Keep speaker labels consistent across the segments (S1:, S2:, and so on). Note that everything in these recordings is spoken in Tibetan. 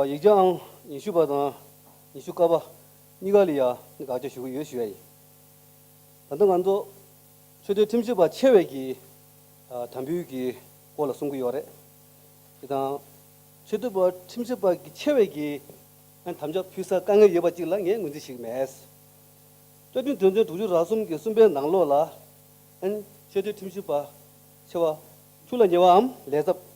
S1: ཡིག་ཆ་ཨང་ཉི་ཤུ་པ་དང་ཉི་ཤུ་ཀ་པ་གཉིས་ཀ་ལ་ཡང་དགག་བྱ་ཞུ་གི་ཡོད་ཞུས་པ་ཡིན། ད་ལྟ་ང་ཚོ་ཆོས་དོན་ཁྲིམས་ཞིབ་པ་ཆེ་བས་ཀྱིས་དམ་འབུལ་གྱི་སྐོར་ལ་གསུང་གི་ཡོད་རེད། དེ་དང། ཆོས་དོན་པ་ཁྲིམས་ཞིབ་པ་ཆེ་བས་ཀྱིས་དམ་བཅའ་ཕུལ་ས་དཀའ་ངལ་ཡོད་པ་གཅིག་ལ་ངས་ངོས་འཛིན་ཞིག་མེད། བཀའ་དྲིན་དོན་ཚན་དྲུག་ཅུ་རག་གསུམ་གྱི་གསུམ་པའི་ནང་ལོགས་ལ། ཆོས་དོན་ཁྲིམས་ཞིབ་པ་ཆེ་བ་ཁྱུག་ལ་ཉེ་བའམ་ལས་ཚབས།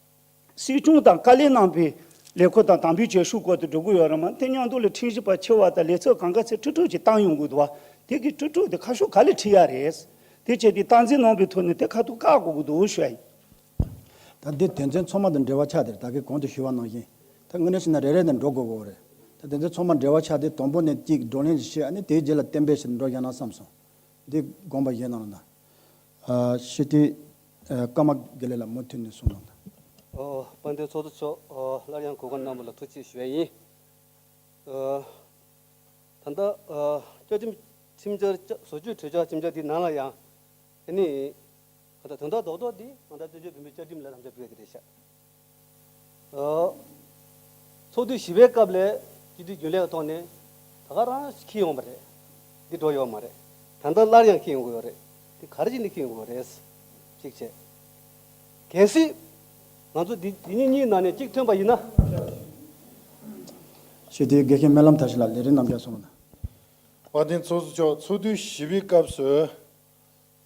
S2: སྲིད་སྐྱོང་དང་བཀའ་ལས་གནང་པའི་ལས་ཁུར་དང་དམ་འབུལ་བྱེད་ཤུགས་སྐོར་དུ་འགྲོ་གི་ཡོད་རེད་མ་དེ་སྙིང་སྟོབས་ལས་འཕྲིན་བཞི་པ་ཆེ་བ་དང་ལས་ཚོགས་གང་ག་ཚད་ཁྲི་དྲུག་ཅིག་བཏང་ཡོང་གི་འདུག་དེ་གི་ཁྲི་དྲུག་དེ་ཁ་ཤོ་ག་ལས་ཁྲི་ཡ་རེད། དེ་བྱས་ཏེ་སྟངས་འཛིན་གནང་པའི་ཐོག་ནས་དེ་ཁ་ཐུག་བཀག་དགོས་ཀྱི་འདུག་ཞུ་ཡ་ཡིན། ད་
S3: འདིར་དོན་ཚན་ཚོགས་མ་དང་འབྲེལ་བ་ཆགས་དེར་ད་གི་གོང་དུ་ཞུ་བ་ནང་བཞིན་ད་དངོས་གནས་ཤི་ན་རེ་རེ་ནས་འགྲོ་དགོས་བོ་རེད། ད་དོན་ཚན་ཚོགས་མ་འབྲེལ་བ་ཆགས་དེ་དང་པོ་ནས་གཅིག་བགྲོ་གླེང་ཞིག་བྱས་ཨ་ནི་དེའི་རྗེས་ལ་གཏན་འབེབས་ཞིག་འགྲོ་བཞག་ན་བསམ་སོང། འདི་དགོངས་པ་བཞེས་གནང་རོགས་གནང། ཤི་ཏི། ཀརྨ་དགེ་ལེགས་ལ་མུ་མཐུད་ནས་གསུང་གནང། དཔལ་ལྡན་
S1: ཚོགས་གཙོ་མཆོག་སླར་ཡང་གོ་སྐབས་གནང་བ་ལ་ཐུགས་རྗེ་ཆེ་བ་ཡིན། ད་ལྟ་བཅའ་ཁྲིམས་ཁྲིམས་འཆར་བཟོ་བཅོས་གྲོས་འཆར་ཁྲིམས་འཆར་དེ་ནང་ལ་ཡང་དེ་ནི་དོན་དག་རྡོག་རྡོག་འདི་ང་ཚ་བཙན་བྱོལ་བོད་མིའི་བཅའ་ཁྲིམས་ལ་རམ་འདེགས་སྤེལ་བ་དེ་རེད་ཤག། ཚོགས་དུས་བཞི་པའི་སྐབས་ལས་སྤྱི་འཐུས་རྒྱུན་ལས་ཀྱི་ཐོག་ནས་ད་ག་རང་ཞིག་ཁེལ་ཡོང་བ་རེད། འདི་འགྲོ་ཡོད་མ་རེད། ད་ལྟ་སླར་ཡང་ཁེལ་ཡོང་གི་ཡོད་རེད། འདི་ག་རེ་བཞིན་དུ་ཁེལ་ཡོང་གི་ཡོད་རེད། གཅིག་བྱས། གལ་སྲིད། ང་ཚོ་འདི་འདི་གཉིས་གཉིས་ནང་ནས་གཅིག་ཐོན་པ་ཡིན་ན།
S3: ཞེས་དེའི་དགེ་རྒན་སྨོན་ལམ་ཐར་ཞིག་ལ་ལས་རིམ་རྣམས་བསྐྱར་གསུངས། བ་དན་
S4: ཚོགས་གཙོ་མཆོག་ཚོགས་དུས་བཞི་པའི་སྐབས་སུ།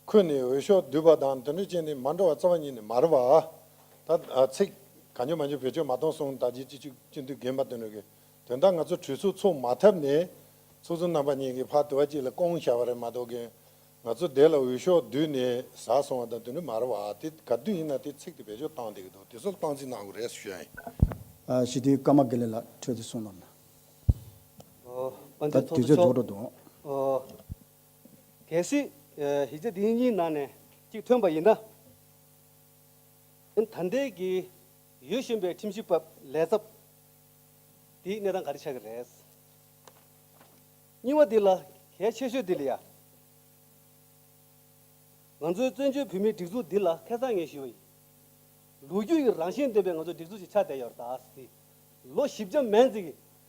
S4: ཁོས་ནི་འོས་ཤོག་བསྡུས་པ་དང་དོན་འགྲུལ་ཅན་ནི་མ་འགྲོ་བ་རྩ་བ་ཉིད་ནས་མ་རེད་པ། ད། ཚིག། ག་འཇོག་མ་འཇོག་བེད་སྤྱོད་མ་གཏོང་གསུང་ད་རྗེས་ཅི་ཆུག་ཅི་འདུག་རྒན་པ་དོན་འགྲུལ་གྱིས་དོན་དག་ང་ཚོ་གྲོས་ཚུགས་ཚུགས་མ་ཐབས་ནས། ཚོགས་གཙོ་རྣམ་པ་གཉིས་ཀྱིས་ཕར་དུ་བ་གཅིག་ལ་སྐོང་བཞག་པ་རེད་མ་གཏོགས་རྒན། ང་ཚོ་དེ་ལ་འོས་ཤོག་བསྡུས་ནས་ཟ་སོང་བ་དང་དོན་འགྲུལ་མ་རེད་པ་དེ་ག་དུས་ཡིན་ན་དེ་ཚིག་དེ་བེད་སྤྱོད་བཏང་བསྡད་ཀྱི་འདུག་དེ་ཚོ་ལ་སྟངས་འཛིན་གནང་དགོས་རེད་ཞུ་ཡ་ཡིན། ཞི་བདེའི་
S3: སྐར་མ་དགེ་ལེགས་ལགས་འཕྲོད་དེ་གསུངས་ལོ། ད་
S1: དུས་ཚོད་རྫོགས་འགྲོ་འདུག།
S3: གལ་
S1: སྲིད། གཞི་རྩ་འདི་གཉིས་ནང་ནས་གཅིག་ཐོན་པ་ཡིན་ན། ད་ལྟའི་གི་ཡུལ་གཞོན་པའི་ཁྲིམས་ཞིབ་པ་ལས་ཚབ་དེའི་གནས་སྟངས་ག་རེ་ཆགས་ཀྱི་རེད། རྙིང་བ་འདི་ལ་གལ་ཆེ་ཤོས་འདི་ལ་ཡ། ང་ཚོའི་བཙན་བྱོལ་བོད་མིའི་སྒྲིག་འཛུགས་འདི་ལ་ཁེ་བཟང་ངེས་ཤོས་ཡིན། ལོ་རྒྱུས་ཀྱི་རང་བཞིན་ལྡན་པའི་ང་ཚོའི་སྒྲིག་འཛུགས་ཤིག་ཆགས་བསྡད་ཡོད་རེད། ལོ་བཞི་བརྒྱ་མན་ཙི་གི་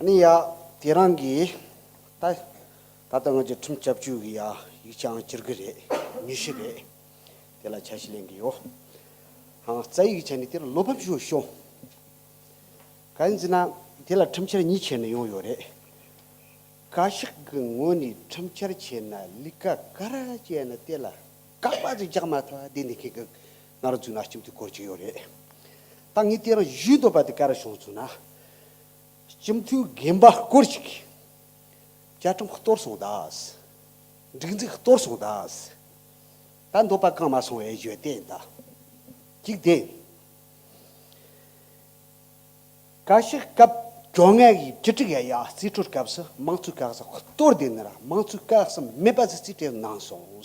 S5: ནི་ཡ། དེ་རང་གི། ད། ད་ལྟ་ང་ཅི་ཁྲིམས་བཅའ་བཅོས་ཀྱི་ཡ། ཡིག་ཆའང་སྤྱིར་གི་རེད། ཉུ་ཤི་རེད། དེ་ལ་བྱ་ཞིག་ལེན་གི་ཡོ། ཧང། རྩ་ཡིག་བྱ་ནི་དེ་ལ་བློ་ཕམ་ཞུ་ཤོ། ག། ཡིན་ཟེར་ན། དེ་ལ་ཁྲིམས་འཆར་གཉིས་ཁྱེར་ནས་ཡོང་ཡོ་རེད། ག། ཤིག་གི་ངོས་ནས་ཁྲིམས་འཆར་བྱས་ན་ལི་ཀ་ག་ར་བྱས་ན་དེ་ལ་ཀག་པ་ཅིག་རྒྱག་མ་ཐག་བསྡད་ནས་ཁྱེད་ཀྱི་ང་ར་བཙུགས་ན་ཁྱིམ་དེ་བསྐོར་གྱི་ཡོ་རེད། ད་ངས་དེ་རང་བཞུད་འདོད་པ་དེ་ག་ར་བྱུང་ཟེར་ན། སྤྱི་མཐུས་རྒན་པ་སྐོར་ཅིག་གིས། བཅའ་ཁྲིམས་གཏོར་སོང་གདའ། སྒྲིག་འཛུགས་གཏོར་སོང་གདའ། ད་འདོད་པ་བསྐང་མ་སོང་བའི་བརྗོད་གཏན་གདའ། གཅིག་བདེན། བཀའ་ཤག་སྐབས་བཅོ་ལྔ་བའི་བཅུ་དྲུག་ཡ་ཡ་རྩིས་སྤྲོད་སྐབས་སུ་དམངས་གཙོའི་བཀའ་གསལ་གཏོར་ལྡན་ནི་ར་དམངས་གཙོའི་བཀའ་གསལ་མེད་པ་ཟེར་རྩིས་སྤྲོད་གནང་སོང།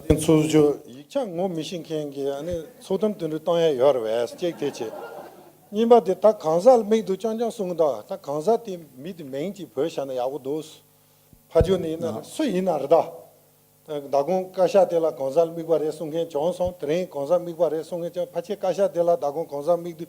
S3: ད་ཐེངས་ཚོགས་
S4: གཙོས་ཡིག་ཆ་ངོ་མི་ཤེས་མཁན་གྱི་ཚོགས་གཏམ་དུད་འགྲོ་གཏོང་ཡ་ཡོད་རེད་བས་ཅེག་ཐེ་བྱེད། གཉིས་པ་དེ་ད་གང་ཟག་ལ་མིག་འདུག་ཅང་ཅང་གསུང་གདའ་ད་གང་ཟག་དེ་མི་དེ་མིང་ཅིག་བོས་བྱས་ན་ཡག་པོ་འདུག་ཕ་ཇོ་ནི་ཡིན་ན་རེད་སུ་ཡིན་ན་རེད་ད། ད་གོང་བཀའ་ཤག་དེ་ལ་གང་ཟག་ལ་དམིགས་པ་རེད་གསུང་མཁན་བྱོན་སོང་དེ་རིང་གང་ཟག་དམིགས་པ་རེད་གསུང་མཁན་བྱོན་ཕ་ཆེ་བཀའ་ཤག་དེ་ལ་ད་གོང་གང་ཟག་དམིགས་དུས་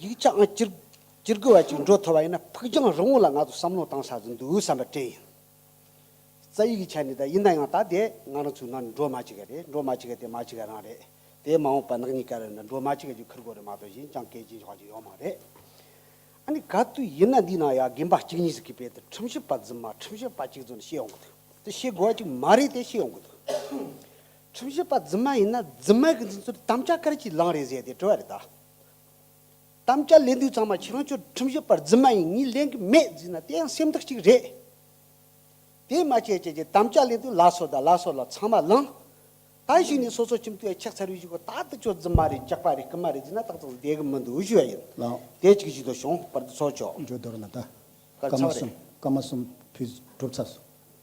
S5: ཡིག་ཆའང་སྤྱིར་དགོས་བ་ཅིག་འགྲོ་ཐུབ་པ་ཡིན་ན་ཕུགས་རྒྱང་རིང་བོ་ལ་ང་ཚོ་བསམ་བློ་བཏང་ས་ཟིན་འདུག་བསམ་པ་དྲན་ཡོད། རྩ་ཡིག་གི་ཆ་ནས་ད་ཡིན་ན་ཡང་ད་དེ་ང་རང་ཚོའི་ནང་འགྲོ་མ་ཅི་ག་རེད་འགྲོ་མ་ཅི་ག་དེ་མ་ཅི་ག་རང་རེད་དེ་མ་འོངས་པ་ནག་ཉིས་ཀ་རེ་ན་འགྲོ་མ་ཅི་ག་ཅིག་འཁུར་དགོས་རེད་མ་གཏོགས་གཞན་ཅང་སྐད་ཅིག་ཆོག་ཅིག་ཡོད་མ་རེད། ཨ་ནི་ག་དུས་ཡིན་ན་འདིའི་ནང་ཡ་རྒན་པ་གཅིག་གཉིས་ཟིག་གིས་བོད་དོན་ཁྲིམས་ཞིབ་པ་རྫུན་མ་ཁྲིམས་ཞིབ་པ་གཅིག་ཚོ་ནས་ཤེས་ཡོང་གི་འདུག་དེ་ཤེས་དགོས་བ་ཅིག་མ་རེད་དེ་ཤེས་ཡོང་གི་འདུག། ཁྲིམས་ཞིབ་པ་རྫུན་མ་ཡིན་ན་རྫུན་མ་གི་འཛིན་ཚུལ་དམ་བཅའ་གར་གྱིས་ལངས་རེད་ཟེར་ཏེ་བྲོས་བ་རེད་ད། དམ་བཅའ་ལས་འདུས་ཚང་མ་ཁྱེད་རང་ཚོས་ཁྲིམས་ཞིབ་པར་རྫུན་མ་ཡིན་ངེས་ལེན་གི་མེད་ཟེར་ན་དེ་ཡང་སེམས་སྡུག་ཅིག་རེད། དེ་མ་བྱེད་ཅེས་ཀྱི་དམ་བཅའ་ལས་འདུས་ལགས་སོ་ད་ལགས་སོ་ལ་ཚང་མ་ལངས། ད་ཞིག་ནས་སོ་སོ་ཁྱིམ་དུ་ཡ་ཁྱག་ཚར་བའི་གཞི་གོ་ད་ལྟ་ཁྱོད་རྫུན་མ་རེད་སྐྱག་པ་རེད་རྐུན་མ་རེད་ཟེར་ན་ཏག་ཏག་བསྡད་གི་མི་འདུག་ཞུ་བ་ཡིན། དེ་ཅིག་བཞི་དོ་
S3: བྱུང་
S5: བར་དུ་ཚོགས་མཆོག། འགྲོ་དོར་ལ་ད། སྐར་མ་གསུམ་སྐར་མ་གསུམ་
S3: བུས་བསྒྲུབས་ཚར་སོང།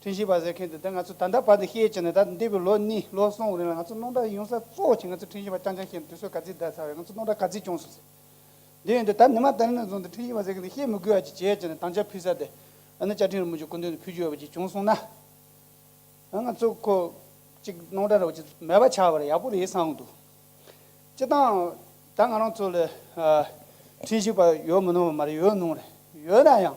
S2: ཐུན་བཞི་པ་ཟེར་མཁན་དེ་ད་ང་ཚོས་ད་ལྟ་བར་དུ་ཤེས་ཀྱི་ནི་ད་འདས་པའི་ལོ་གཉིས་ལོ་གསུམ་རིང་ལ་ང་ཚོ་སྣང་གྲགས་ཡོང་ས་གཙོ་བོ་ཆེ་ང་ཚོས་ཐུན་བཞི་པ་རྐྱང་རྐྱང་ཤེས་ནས་དུས་ཚོད་ག་ཚིག་ཟླ་ཚར་བས་ང་ཚོ་སྣང་གྲགས་ག་ཚིག་ཅུང་ཟད་ཟད་ཡོད་འདུག་ད་ནི་མ་ད་ནི་ནས་བཟུང་སྟེ་ཐུན་བཞི་པ་ཟེར་མཁན་དེ་ཤེས་མི་དགོས་བ་ཅིག་བྱས་ཀྱི་ནི་དང་ཆ་ཕུལ་ས་དེ་ཨ་ནི་བཅའ་ཁྲིམས་རུ་མི་ཆོས་སྐུ་མདུན་དུ་ཕུལ་རྒྱུ་ཡོད་པ་ཅིག་བྱུང་སོང་ན་ང་ང་ཚོ་ཁོ་ཅིག་སྣང་གྲགས་རོགས་ཅིག་མེད་པ་ཆགས་པར་ཡག་པོ་རེད་བསམ་འདུག་སྤྱི་བཏང་ད་ང་རང་ཚོ་ལ་ཐུན་བཞི་པ་ཡོད་མི་ནོར་བ་མ་རེད་ཡོད་ནོར་ཡོད་ན་ཡང།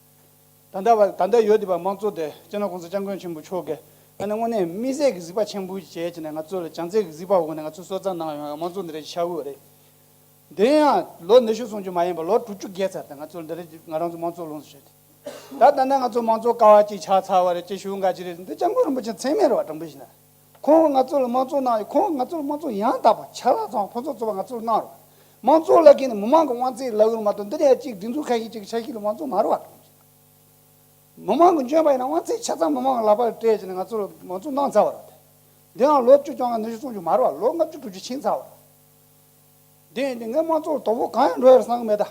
S2: ད་ལྟ་བར་ད་ལྟ་ཡོད་བདེ་བ་མང་གཙོ་དེ་སྤྱིར་ན ྋགོང་ས ྋསྐྱབས་མགོན་ཆེན་པོ་མཆོག་གིས་ད་ནི་དངོས་གནས་དམིགས་བསལ་གྱི་གཟིགས་པ་ཆེན་པོའི་བྱས་ཀྱི་ནས་ང་ཚོ་ལ་བྱམས་བརྩེ་གྱི་གཟིགས་པ་འོག་ནས་ང་ཚོའི་སྲོལ་རྩ་ནང་ཡོང་ཡང་མང་གཙོ་འདི་རིགས་ཆགས་འོས་རེད། དེ་ཡང་ལོ་ཉི་ཤུ་སོང་རྒྱུ་མ་ཡིན་པར་ལོ་དྲུག་ཅུ་བརྒལ་ཚར་ཏེ་ང་ཚོར་འདི་རིགས་ང་རང་ཚོ་མང་གཙོ་ལོངས་སུ་སྤྱད་དེ། ད་ལྟ་ནས་ང་ཚོ་མང་གཙོ་ཀ་བ་གཅིག་ཆགས་ཚར་བ་རེད་ཅེས་ཞུ་འགའ་ཅི་རེད་འདི ྋསྐྱབས་མགོན་རིན་པོ་ཆེ་མཚན་སྨད་ར་བ་དྲང་པོའི་གཞི་ན། ཁོང་གིས་ང་ཚོ་ལ་དམངས་གཙོ་གནང་ཡོད། ཁོང་གིས་ང་ཚོ་ལ་དམངས་གཙོ་ཡང་དག་པ་ཆ་ལག་ཚང་བ་ཕུན་ཚོགས་ཚོགས་པ་ང་ཚོར་གནང་རོགས། དམངས་གཙོ་ལ་དགེ་ནས་མི་མང་གི་དབང་ཚད་ལག་ལུང་མ་གཏོང་འདི་ནས་ཡ་གཅིག་སྒྲིག་འཛུགས་མཁན་ཡིན་གཅིག་གི་ཆ་ཤས་ལ་དབང་གཙོ་མ་རུ་བ་གཏོང་རྒྱུ། མི་མང་གི་འཇོན་པ་ཡིན་ན་དབང་ཚད་ཆ་ཚང་མི་མང་གི་ལག་པ་ལ་སྤྲད་ཅིག་ནས་ང་ཚོ་ལ་དམངས་གཙོ་གནང་ཚར་བ་རེད། འདི་འང་ལོ་བཅུ་བཅོ་ལྔ་ཉི་ཤུ་སོང་རྒྱུ་མ་རུ་བ་ལོ་ལྔ་བཅུ་དྲུག་ཅུ་ཕྱིན་ཚར་བ་རེད། དེ་ཡིན་དུས་ངས་དམངས་གཙོ་ལ་དོ་ཕོག་གང་ཡང་འགྲོ་ཡ་རེད་བསམ་གི་མེད་ད།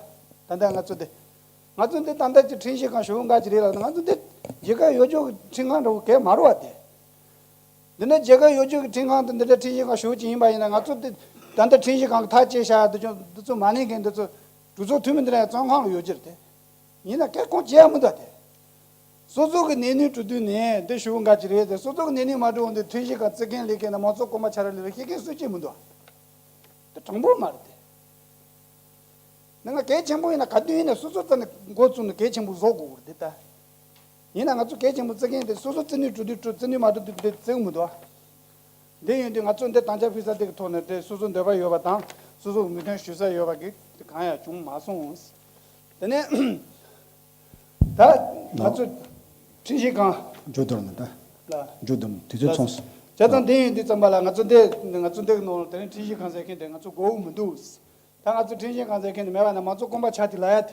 S2: ད་ལྟ་ང་ཚོ་འདི། ང་ཚོ་འདི་ད་ལྟ་ཀྱི་འཕྲིན་ཤེས་གང་ཞུ་འགའ་ཅིག་རེད་ལབ་ན་ང་ཚོ་འདི། ཇི་ག་ཡོད་ཅོག་གི་འཕྲིན་གང་འདྲ་བོ་གས་མ་རུ་བ་དེ། འདི་ནི་རྒྱལ་ཁབ་གཡོ་སྒྱུ་གི་འཕྲིན་ཁང་དུ་འདི་འདྲའི་འཕྲིན་གཞི་ཁང་ཞུ་རྒྱུ་ཡིན་པ་ཡིན་ན་ང་ཚོ་འདི་ད་འདི་འཕྲིན་གཞི་ཁང་གི་ཐག་བཅད་བཞག་འདི་ཅོ་འདི་ཚོ་མ་ནིང་གི་འདི་ཚོ་གྲོས་ཚོགས་འཐུས་མི་འདི་ནས་གཙང་ཁང་ལ་ཡོད་རྒྱུ་རེད་དེ་ཡིན་ན་ཀེར་ཁོང་ཇེ་མི་འདྲ་དེ། སོ་སོ་གི་གནས་ནུས་གྲུ་དུས་ནས་འདི་ཞུ་འགའ་ཅི་རེད་དེ་སོ་སོ་གི་གནས་ནུས་མ་གྲུ་འོ་འདི་འཕྲིན་གཞི་ཁང་བརྩི་མཁན་ལས་མཁན་དང་མང་གཙོ་སྐོར་མ་ཆ་ར་ལི་ར་ཤེས་མཁན་སུ་ཅི་མི་འདུག་ཨ། འདི་དྲང་པོ་མ་རེད་དེ། འདི་ང་གལ་ཆེན་པོ་ཡིན་ན་ག་དུས་ཡིན་ན་སོ་སོ་ཙམ་ནས་འགོ་བཙུགས་ནས་གལ་ཆེན་པོ་བཟོ་དགོས་རེད་དེ་ད། ཡིན་ན་ང་ཚོ་གལ་ཆེན་པོ་བརྩི་མཁན་དེ་སོ་སོ་བརྩི་ནུས་གྲུབ་དུས་གྲུབ་བརྩི་ནུས་མ་གྲུབ་དུས་བརྩི་མི་འདུག་ག། འདི་ཡོད་དུས་ང་ཚོས་འདི་དང་ཆ་ཕུལ་ས་དེ་གི་ཐོག་ནས་དེ་སོ་སོའི་འདོད་པ་ཡོད་པ་དང་སོ་སོ་འུར་འདོན་ཞུ་ས་ཡོད་པ་གི་དེ་གང་ཡང་བྱུང་མ་སོང། དེ་ནས་ད་ང་ཚོས་ཁྲིམས་ཞིབ་ཁང། འཇུ་དོམ་ལ།
S3: ལ། འཇུ་དོམ་
S2: དེ་ཚོའི་ཚོང།
S3: བྱས་ཙང་འདི་ཡོད་དུས་ཙམ་
S2: པ་ལ་ང་ཚོ་འདི་ང་ཚོ་འདི་གི་ནང་ལ་དེ་རིང་ཁྲིམས་ཞིབ་ཁང་ཟེར་མཁན་དེ་ང་ཚོ་མགོ་དབུགས་མི་འདུག། ད་ང་ཚོ་ཁྲིམས་ཞིབ་ཁང་ཟེར་མཁན་དེ་མེད་པ་ན་མང་གཙོ་སྐོང་པ་ཆགས་དུས་ལ་ཡ་དེ་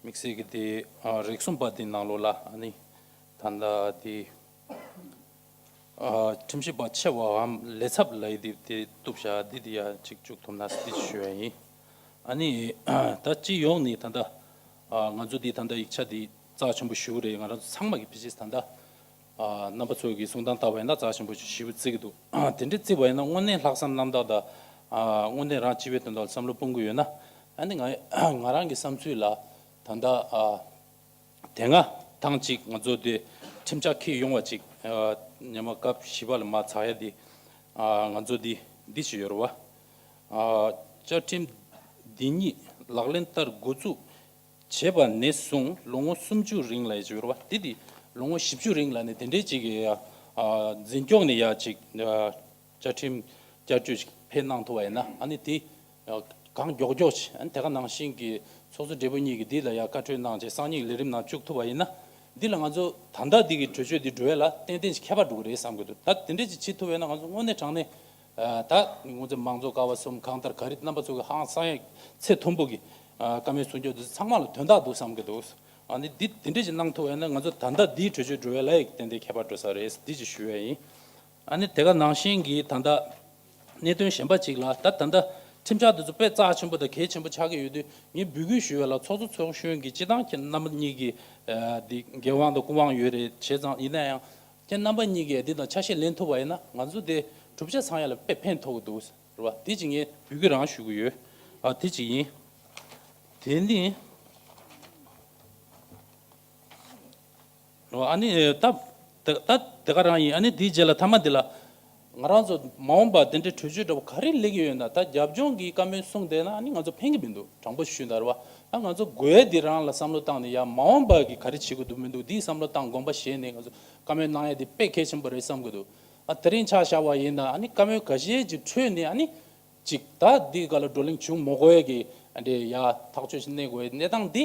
S6: དམིགས་བསལ་གྱི་དེ་རིགས་གསུམ་པ་དེ་ནང་ལོགས་ལ་ནི། ད་ལྟ་དེ། ཁྲིམས་ཞིབ་པ་ཆེ་བའམ་ལས་ཚབ་ལས་དེ་དེ་བཏུབ་བྱ་འདི་དེ་ཡ་གཅིག་བཅུག་ཐུབ་ན་དེ་ཞུ་བ་ཡིན། ཨ་ནི། ད་སྤྱི་ཡོངས་ནས་ད་ལྟ། ང་ཚོ་དེ་ད་ལྟ་ཡིག་ཆ་དེ་རྩ་ཆེན་པོ་ཞུ་རེད་ང་རང་ཚོ་ཚང་མ་གི་བེ་ཇིས་ད་ལྟ། རྣམ་པ་ཚོས་ཀྱི་གསུང་དང་ལྟ་བ་ཡིན་ན་རྩྭ་ཞིམ་པོ་ཞིག་ཞིབ་ཏུ་བརྩི་གི་འདུག་དེ་འདྲའི་བརྩི་བ་ཡིན་ན་དངོས་གནས་ལྷག་བསམ་རྣམ་དག་དང། དངོས་གནས་རང་སྤྱི་བའི་དོན་དག་ལ་བསམ་བློ་གཏོང་གི་ཡོད་ན། ཨ་ནི་ང་རང་གི་བསམ་ཚུལ་ལ་ད་ལྟ། དེ་སྔ་ཐེངས་གཅིག་ང་ཚོ་དེ་ཁྲིམས་ཆག་ཁེལ་ཡོང་བ་ཅིག་ཉེ་མ་སྐབས་བཞི་པ་ལ་མ་ཚགས་ཡ་དེ། ང་ཚོ་འདི་འདི་བྱེད་ཡོད་རེད་བ། བཅའ་ཁྲིམས་འདི་ཉིད་ལག་ལེན་བསྟར་འགོ་བཙུགས། བྱེད་པ་ནས་བཟུང་ལོ་ངོ་སུམ་ཅུ་རིང་ལ་ཡི་བྱེད་པར་བ་དེ་དེ་ལོ་ངོ་བཞི་བཅུ་རིང་ལ་ནི་དེ་འདྲའི་ཅིག་གི་ཡ་འཛིན་སྐྱོང་ནས་ཡ་ཅིག་བཅའ་ཁྲིམས་བསྐྱར་བཅོས་ཅིག་ཕེབས་གནང་ཐུབ་པ་ཡིན་ན་ཨ་ནི་དེ་གང་མགྱོགས་མགྱོགས་ཅིག་ཨ་ནི་དེ་ག་ནང་བཞིན་གྱི་ཚོགས་གཙོ་སྦྲེལ་པོ་གཉིས་ཀྱིས་དེ་ལ་ཡ་བཀའ་འཁྲོལ་གནང་ཅིག་གསང་སྙིང་ལས་རིམ་ནང་བཅུག་ཐུབ་པ་ཡིན་ན་འདི་ལ་ང་ཚོ་ད་ལྟ་འདི་གི་གྲོས་ཆོད་འདི་འགྲོ་བས་ལ་ཏན་ཏན་ཅིག་ཁྱད་པར་འགྲོ་གི་རེད་བསམ་གྱི་འདུག་ད་དེ་འདྲའི་ཅིག་བྱེད་ཐུབ་པས་ན་ང་ཚོ་དངོས་གནས་དྲང་གནས། ད་ནི་སྔོན་ཚེ་མང་ཚོགས་ཀ་བ་གསུམ་གང་ལྟར་ག་རེ་རྣམ་པ་ཚོ་གི་ཧང་སང་ཡག་ཚད་མཐོན་པོ་གི་ཀ་མའི་གསུང་ཆོས་འདི་ཚོ་ཚང་མ་ལ་དོན་དག་འདུག་བསམ་གི་འདུག་ཨ་ནི་འདི་འདི་འདྲས་ཅིག་གནང་ཐུབ་བས་ན་ང་ཚོ་ད་ལྟ་འདིའི་གྲོས་ཆོད་འགྲོ་བའི་ལ་ཡི་གི་ཏན་ཏན་ཁྱད་པར་འགྲོ་ས་རེད་འདི་ཅིག་ཞུ་བས་ཡིན། ཨ་ནི་དེ་ག་ནང་བཞིན་གི་ད་ལྟ་གནད་དོན་གཞན་པ་ཅིག་ལ་ད་ད་ལྟ་ཁྲིམས་འཆར་འདི་ཚོ་དཔེ་རྩ་ཆེན་པོ་དང་གལ་ཆེན་པོ་ཆགས་ཀྱི་ཡོད་དུས་ངས་འབུལ་སྐུལ་ཞུ་བའི་ལ་ཚོགས་གཙོ་ཚོགས་གཞོན་གྱི་སྤྱི་བཏང་ཁྱེད་རྣམ་པ་གཉིས་ཀྱི་འདི་འགན་དབང་དང་སྐུ་དབང་ཡོད་རེད་བྱས་ཙང་ཡིན་ན་ཡང་ཁྱེད་རྣམ་པ་གཉིས་ཀས་འདི་དང་ཆ་ཤས་ལེན་ཐུབ་པ་ཡིན་ན་ང་ཚོ་དེ་གྲུབ་ཆ་ཚང་ཡག་ལ་དཔེ་ཕན་ཐོག་གི་འདུག་ཟེར་བ་དེ་གཅིག་ཡིན། བོད་ཀྱི་རང་ཞུ་གི་ཡོད་ཨ་དེ་གཅིག་ཡིན། དེ་ནི། ཨ་ནི་ད་ད་དེ་ག་རང་ཡིན་ཨ་ནི་དེའི་རྗེས་ལ་ཐ་མ་དེ་ལ། ང་རང་ཚོ་མ་འོངས་པར་དེ་འདྲའི་གྲོས་ཆོད་འདྲ་པོ་ག་རེ་ལེགས་ཡོད་ན་ད་རྒྱབ་ལྗོངས་ཀྱི་བཀའ་མོལ་གསུང་དེ་ན་ནི་ང་ཚོ་ཕན་གི་མི་འདུག་དྲང་པོ་ཞུས་ན་རེ་བ་ད་ང་ཚོ་དགོས་ཡས་འདི་རང་ལ་བསམ་བློ་བཏང་ནས་ཡ་མ་འོངས་པར་གི་ག་རེ་བྱེད་དགོས་འདུག་མི་འདུག་འདི་བསམ་བློ་བཏང་དགོངས་པ་བཞེས་ནས་ང་ཚོ་བཀའ་མོལ་གནང་ཡས་འདི་དཔེ་གལ་ཆེན་པོ་རེད་བསམ་གི་འདུག་ད་དེ་རིང་ཆགས་བཞག་བ་ཡིན་ན་ནི་བཀའ་མོལ་ག་ཞེས་ཀྱི་ཁྲོད་ནས་ནི་ཅིག་ད་འདི་ག་ལ་བགྲོ་གླེང་བྱུང་མོ་དགོས་ཡས་ཀྱི་འདྲེ་ཡ་ཐག་ཆོད་ཅིག་གནས་དགོས་ཡས་གནས་སྟངས་འདི་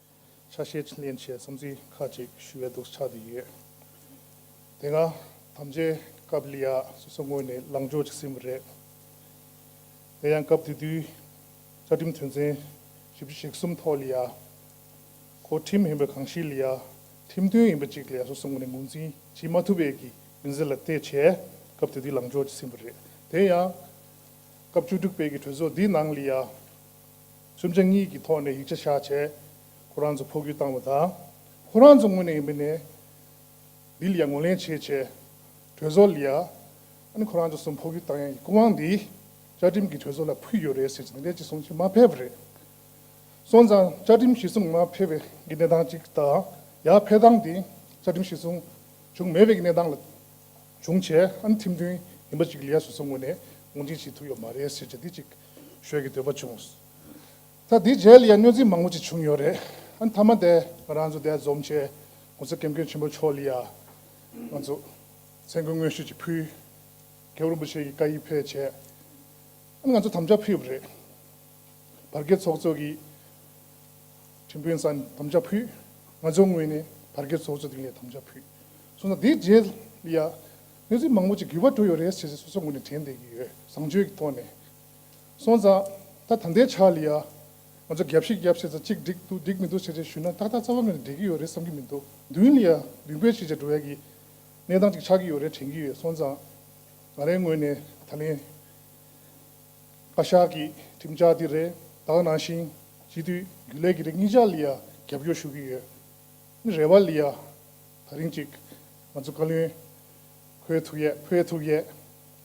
S7: ཆ་ཤས་ཕྱིན་ལན་ཆེ་བསམ་ཚུལ་ཁག་ཅིག་ཞུ་བའི་འདུག་ཆགས་བསྡད་ཡོད། དེ་སྔ་དམ་བཅའི་སྐབས་ལི་ཡཱ་སོ་སོ་ངོས་ནས་ལངས་ཕྱོགས་ཅིག་ཟིན་པ་རེད། དེ་ཡང་སྐབས་དེ་དུས་བཅའ་ཁྲིམས་དོན་ཚན་བཞི་བཅུ་ཞེ་གསུམ་ཐོག་ལི་ཡཱ་གོ་ཁྲིམས་ཡིན་པ་གང་ཞིག་ལི་ཡཱ་ཁྲིམས་དོན་ཡིན་པ་ཅིག་ལི་ཡཱ་སོ་སོ་ངོས་ནས་ངོས་འཛིན་བྱེད་མ་ཐུབ་པའི་ཀྱི་མིན་ཟེར་ལ་བལྟས་བྱས་སྐབས་དེ་དུས་ལངས་ཕྱོགས་ཅིག་ཟིན་པ་རེད། དེ་ཡང་སྐབས་བཅུ་དྲུག་པའི་ཀྱི་གྲོས་ཚོགས་འདིའི་ནང་ལི་ཡཱ། སུམ་ཆ་གཉིས་ཀྱི་ཐོག་ནས་ཡིག་ཆ་བཞག་ཆེད་ཁོ་རང་ཚོ་འཕོ་འགྱུར་བཏང་བ་དང། ཁོ་རང་ཚོ་དངོས་ནས་མི་ནས་ལི་ལི་ཡ་ངོས་ལེན་བྱེད་ཆེད་གྲོས་ཚོགས་ལི་ཡ་ནས་ཁོ་རང་ཚོ་སུ་འཕོ་འགྱུར་བཏང་ཡ་ཡི་སྐུ་དབང་འདི་བཅའ་ཁྲིམས་ཀྱི་གྲོས་ཚོགས་ལ་ཕུལ་ཡོད་རེད་ཟེར་གྱི་འདི་འདྲའི་གཅིག་གསུང་གཅིག་མ་ཕེབས་པ་རེད། སོང་ཙང་བཅའ་ཁྲིམས་གཞི་གསུམ་མ་ཕེབས་པའི་གི་གནས་སྟངས་གཅིག་དང་ཡ་ཕེབས་སྟངས་འདི་བཅའ་ཁྲིམས་གཞི་གསུམ་བྱུང་མེད་པའི་གི་གནས་སྟངས་ལ་བྱུང་ཆེད་ཨ་ནི་ཐིམ་མཐུན་ཡིན་པ་གཅིག་ལི་ཡ་སོ་སོ་ངོས་ནས་ངོས་འཛིན་བྱེད་ཐུབ་ཡོད་མ་རེད་ཟེར་གྱི་འདི་གཅིག་ཞོལ་གྱི་འདོད་པ་བྱུང། ད་དེའི་རྗེས་ལ་ཡང་གནོད་འཚེ་མང་པོ་ཅིག་བྱུང་ཡོད་རེད། ཨ་མཐའ་མ་དེ་ང་རང་ཚོ་འདས་འཛོམས་ཆེད་ངོ་ཚ་ཀེམ་ཀེམ་ཆེན་པོ་ཕྱོགས་ལ་ཡང་ང་ཚོ་མཚན་སྐུལ་སྔོན་ཤོས་ཅིག་ཕུལ། ཀེའུ་རིན་པོ་ཆེ་ཡིས་བཀའ་ཡིས་ཕེབས་བྱས། ཨ་ནི་ང་ཚོ་དམ་བཅའ་ཕུལ་ཡོད་པ་རེད། བར་བརྒལ་ཚོགས་གཙོ་གིས་ཁྲིམས་དཔོན་ས་ནས་དམ་བཅའ་ཕུལ། ང་ཚོའི་ངོས་ནས་བར་བརྒལ་ཚོགས་གཙོ་དེ་ངས་དམ་བཅའ་ཕུལ། སོང་ཙང་དེའི་རྗེས་ལ་ཡང། གནས་ཚུལ་མང་པོ་ཅིག་གུས་པ་བཀྲོལ་ཡོད་རེད་ཟེར་ཟེར་སོ་སོ་ངོས་ནས་དྲན་བསྡད་ཀྱི་ཡོད་བཟང་སྤྱོད་ཀྱི་ཐོག་ནས། སོང་ཙང། ད་ད་ལྟའི་ཆར་ལ་ཡ། ང་ཚོ་རྒྱབ་ཤིག་རྒྱབ་བྱས་ཙང་གཅིག་འགྲིག་འདུག་འགྲིག་མི་འདུག་ཟེར་ཟེར་ཞུས་ན་ཏག་ཏག་རྩ་བ་ངོས་ནས་འགྲིག་གི་ཡོད་རེད་བསམ་གྱི་མི་འདུག་མདུན་ལ་ཡ། མདུན་བསྐྱོད་བྱས་བྱས་འགྲོ་ཡ་གི། གནས་སྟངས་ཅིག་ཆགས་ཀྱི་ཡོད་རེད་དྲན་གྱི་ཡོད་སོང་ཙང། ང་རའི་ངོས་ནས་ད་ལན། བཀའ་ཤག་གི་ཁྲིམས་འཆར་འདི་རེ་དྭགས་ནང་བཞིན། སྤྱི་འཐུས་རྒྱུན་ལས་ཀྱི་རེ་གཉིས་ཆ་ལ་ཡ་རྒྱབ་སྐྱོར་ཞུ་གི་ཡོད། རེ་བ་ལ་ཡ། ད་རིང་ཅིག་ང་ཚོ་བཀའ་བློན་ཁོའི་ཐུགས་ཡས་ཕོའི་ཐུགས་ཡས།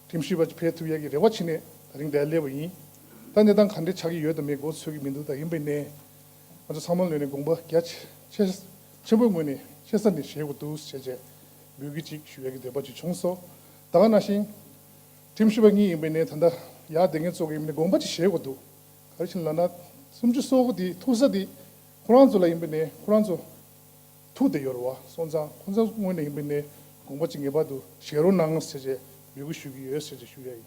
S7: ཁྲིམས་ཞིབ་པ་ཕའི་ཐུགས་ཡས་ཀྱི་རེ་བ་ཕྱི་ནས་ད་རིང་བསྡད་སླེ་བ་ཡིན། ད་གནས་སྟངས་ག་འདྲས་ཆགས་ཀྱི་ཡོད་དམ་མེད་གོ་ཚོད་ཀྱི་མི་འདུག་ད་ཡིན་པའི་གནས། ང་ཚོ་ཚང་མ་ལོན་ནས་དགོངས་པ་རྒྱ་ཆེན་པོའི་ངོས་ནས་ཆེ་ས་ནས་བཞེས་དགོས་འདུག་ཞེས་བཅས་འབུལ་གྱི་ཅིག་ཞུ་ཡས་ཀྱི་འདོད་པ་ཅིག་བྱུང་སོགས་ད་ག་ན་ཤིང། ཁྲིམས་ཞིབ་པ་གཉིས་ཡིན་པའི་གནས་ད་ལྟ་ཡག་བསྡད་མཁན་གཙོ་གི་ཡིན་པའི་གནས་དགོངས་པ་ཅིག་བཞེས་དགོས་འདུག་ག་རེ་བྱིན་ལ་ན་སུམ་ཅུ་སོ་དགུ་དེའི་ཐུགས་ས་དེ་ཁོ་རང་ཚོ་ལ་ཡིན་པའི་གནས་ཁོ་རང་ཚོ་ཐུགས་དད་ཡོད་རེད་བ་སོང་ཙང་ཁོང་ཚང་སྔོན་ནས་ཡིན་པའི་ནས་དགོངས་པ་གཅིག་ངེས་པར་དུ་བཞེས་རོགས་གནང་ཟེར་བྱས་འབོད་སྐུལ་ཞུ་གི་ཡོད་ཟེར་བྱས་ཞུ་ཡ་ཡིན།